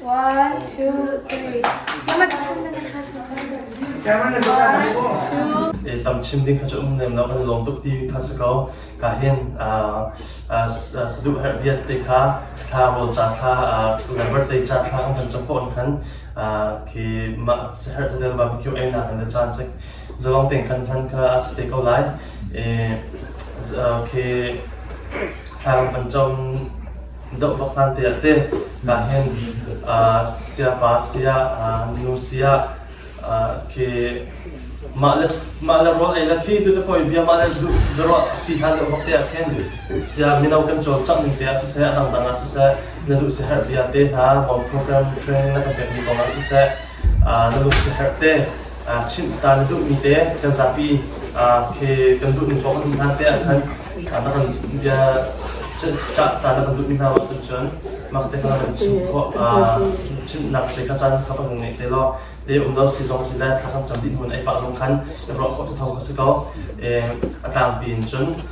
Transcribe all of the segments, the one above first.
One, two, three. One, two. i tam chim ding kha cu um nem lo kan lawm tuk ti kha si ko ka hin saduh har biat te kha thla rol cha thla lambar te cha thla kan kan chapon khan khi ma sehar tanel ba kyu ai na kan chan sek zawang teng kan khan kha ste ko lai e khi thang panchom Doh pakhat te te na hin siapa sia nu sia ke mah le mah le rol ei la khi tu te poi bia mah le du bero si ha do bak te khen sia mino kan chol chak ning te a se adang dang a se na du se har bia te na bom program training na kan pek ni kong a se na lung si herh te chimh ta na duhmi te kan zapi phe kan duhmi thawng kan um hna te ahkhan na kan bia cah ta na kan duhmi hna ahcun cun mak te kan kan chim khawh chimnak hle ka caan kha kan ngeih te law te um lo si zong si le thla kan cam dih hmun ei pah zong khan i ruah khawh te thawng ka si ko a tlangpi in cun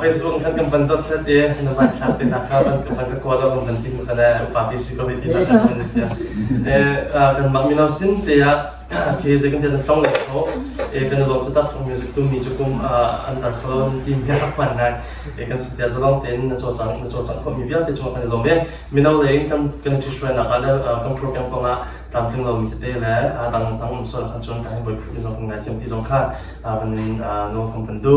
Facebook khan kan van dot hlat i na van thlak te nak kha van ka van ka kaw da van van tin ka na upa bi si ko ti na kan van ta eh kan bang mi no sin te ya ke je kan te na phong lai kho e kan lo ta tak music tu mi chu kum an tar kho ti mi hak pan nai e kan sit ya zolong te na cho chang na cho chang ko mi vial te cho kan lo me mi no le kan kan ti shwe na ka da kan program ko nga tam ting lo mi te le a dang dang so kan chon kan boi mi zo kan ngai thiam ti zo kha ban no kan pan du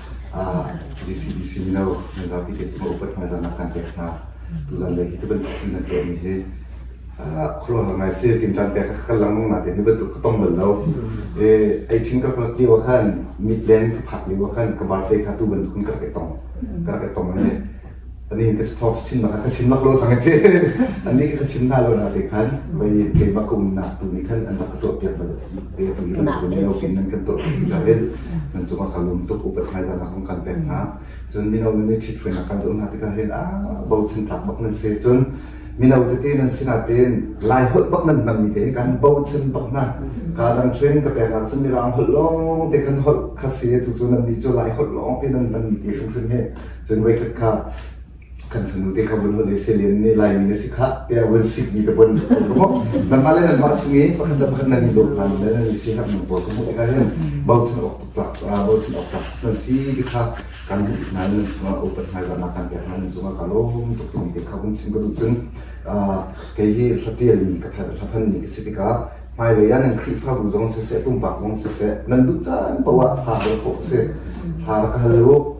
GCDC mino nan zapi te cungah upat hmaizahnak kan pek hna. Tuzan le hi bantuk thil nan tuahmi hi khuaruahhar ngai si tinṭan pek ka langmang na te ni bantuk ka tong bal lo e ai ṭhin ka ka ki wa khan mit len ka phak li wa khan ka bar te kha tu bantuk ka ka tong ka ka tong ne Anih ka thawp chim bak ka chim lak lo cang te anih ka chim hna lo na te khan vai keimah ka umnak tu nih khan an rak ka tuah piak bal te tu nih ban kun mino pin nan kan tuah ti ja in nan cung ka lum tuk upat ngai zan kan kan pek hna cun mino nan thit fuen ka zo na te ka hen a bo chan tak bak nan se cun mino te te nan sina ten lai hol bak nan mang mi te kan bo chan bak na ka dang training ka pek cun mi rang hol long te kan hol khase tu cun nan ni cho lai hol long te nan mang mi te kan he Cun voikhat kha kan fanu te kha vun vun ei selen nih Laimi na si kha tiah vun sikmi ka bon ko ka hmuh nangmah le nangmah chung i pakhat le pakhat nan i dawp hna le nan i si hak nang pawl ka hmuh tikah hin bochan awk tuk bochan awk tuk nan si ti kha kan hmuh hna le nan chungah upat hna zahnak kan pek hna nan chungah ka lawm tuk timi te kha vun chim ka duh cun kei hi hlatial mi ka hlaphan ni ka si tikah hmailei ah nan Khrihfabu zong siseh pumpak zong siseh nan duh caan paoh ah hla hal khawh a si hla ka hal u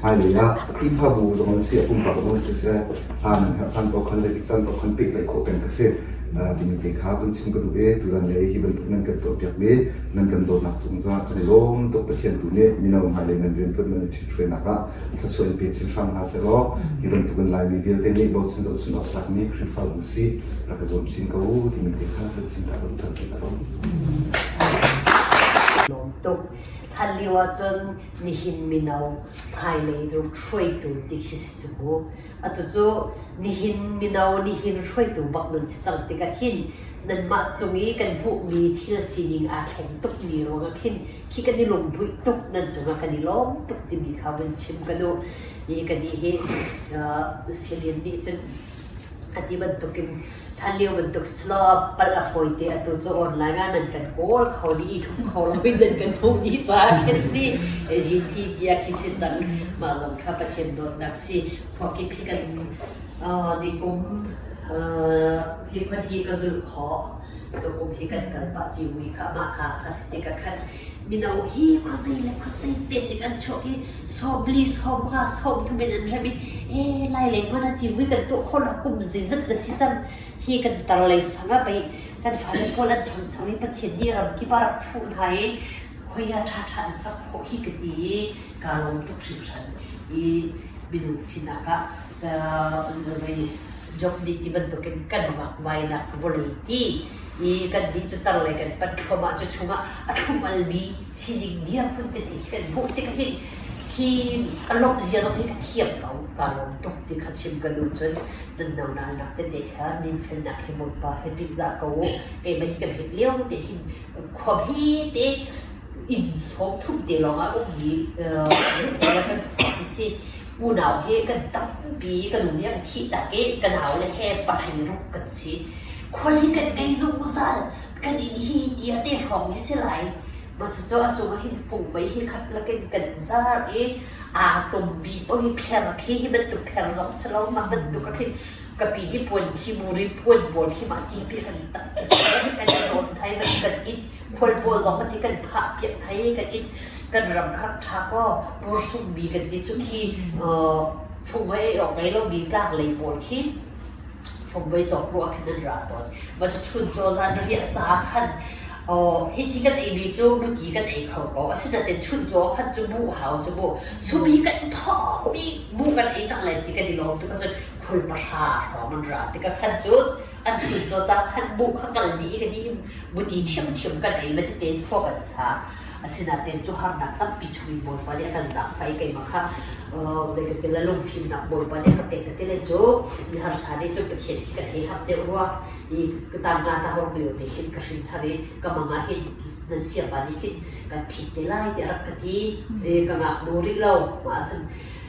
Hmailei ah Khrihfabu zong na si, a pumpak zong siseh, hla nan herh caan paoh khan zeitik caan paoh khan pehtlaih khawh peng ka si. Timi te kha kan chim ka duh i, tutan lei hi bantuk nan kan tuahpiakmi nan kan dawtnak cung zong kan i lawm tuk. Pathian tu nih mino hmailei nan riantuan nan ṭhithruainak ah thluachuah in pe chin hram hna seh law, hi bantukin Laimi vialte nih bochan zohchunh awk tlakmi Khrihfabu si rak ka zuam chin ko timi te kha kan chim ka duh. Lawm tuk. Hlan lio ahcun nihin mino hmailei rum hruaitu ti khi si cu mu. Atu cu nihin mino nihin hruaitu bak nan si cang tikah khin nanmah cung i kan hmuhmi thil sining aa thleng tukmi ruangah khin khi kan i lungbuih tuk nan cungah kan i lawm tuk timi kha vun chim ka duh i kan i hi uh, Celine nih cun a ti bantukin Hlanlio bantuk slow pal a fawi te atu cu online ah nan kan kawl kho dih i tlung kho lo in nan kan hmuh dih caah kan ti GT cia khi si cang mah zong kha Pathian dawtnak si khuakip hi kan nikum hi khon hi ka zulh khawh tukum hi kan kal pah ciu i kha mah hna kha si tik ah khan Mino hi khuazei le khuazei tetik an chuak i sawmli sawmnga sawmthum in an rem i e lai lei kun a civu kan tuah kho lo kum zizat a si cang hi kan tar lei sang a pei kan fale pawl an thong chang i Pathian nih ram kip a rak thuh hna i khoia ṭha ṭha an sak khawh hi ka ti i kaa lawm tuk hringhran i minung sinak ah job dih ti bantukin kan mah vainak voli ti i kan dih cu tar le kan pan khom ah cu chungah a thlum bi sining dia phun te ti kan hmuh ti ka hin hi alom zia zong hi ka thiam ko ka lom tuk ti kha chim ka nu cun nan no nal nak te te kha nin fel nak he mon pa he pik za ko ke mai kan hit leo te hin khom hi te in som thum te long a um hi kan si unau he kan tampi ka nu nih a ka thihtak i ka nau le he pai ruk kan si. Khuali kan ngei zungzal kan inn hi tiah te hrawng hi si lai. Ma cucu a cung ah hin fungmei hi khat lakin kan zar i aa tumbi poi pher khi hi bantuk pher lawng si lo ma bantuk a khin ka pi di puan thi mu ri puan bawl khi ma ti pi kan tam kan in rawn thai kan kan it khual pawl zong kan ti kan phah piak hei kan it kan ram kha rak tha kaw Bursum bi kan ti cu khi Fungvei or Melo bi tlang lei pawl khi Fungvei cawk ruah khan an ra tawn ma cu chun caw zan ria ca khan hi ti kan ei ni cu buti kan ei kho ko asinain chun caw khan cu bu hau cu bu subi kan thawmi bu kan ei cang lai ti kan i lawm tu ka cun khual pahra hrawm an ra tikah khan cun an hri cu cang han buh kha kal dih ka dih buti ṭhiamṭhiam kan ei va tete khua kan sa asinain cu harnak tampi chungin Bawipa nih a kan zaangfai keimah kha zei ka ti la lungfimnak Bawipa nih a ka pek ka ti le cu i harsa nih cun Pathian khi kan hei hap deuh rua i ka tanga ta hor lio te khin ka hrin thar i ka mangah hin na siapa nih khin kan phit te lai tiah rak ka ti e ka ngaknu rih lo ma asn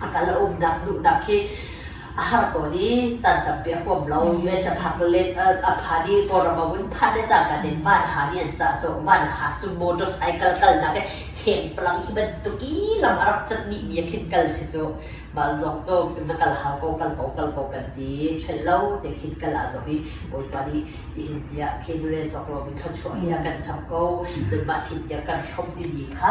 a kal a umnak duhnak khi a har tawn i caan tampi a huam lo. US a phak le a phan i Kawlram a vun phan le cangka tin van ha nih an cah cawk. Van ha cu motorcycle kalnak i chengpalang hi bantuk i lam a rak cat dihmi a khin kal si cu. Mah zong cu na kal hau ko, kal ko, kal ko kan ti. Hrelh lo te khin kal aa zong i Bawipa nih hihin tiah khin rel cawk loin thluachuah hi a kan chap ko. Tunmah sin tiah kan hrom timi kha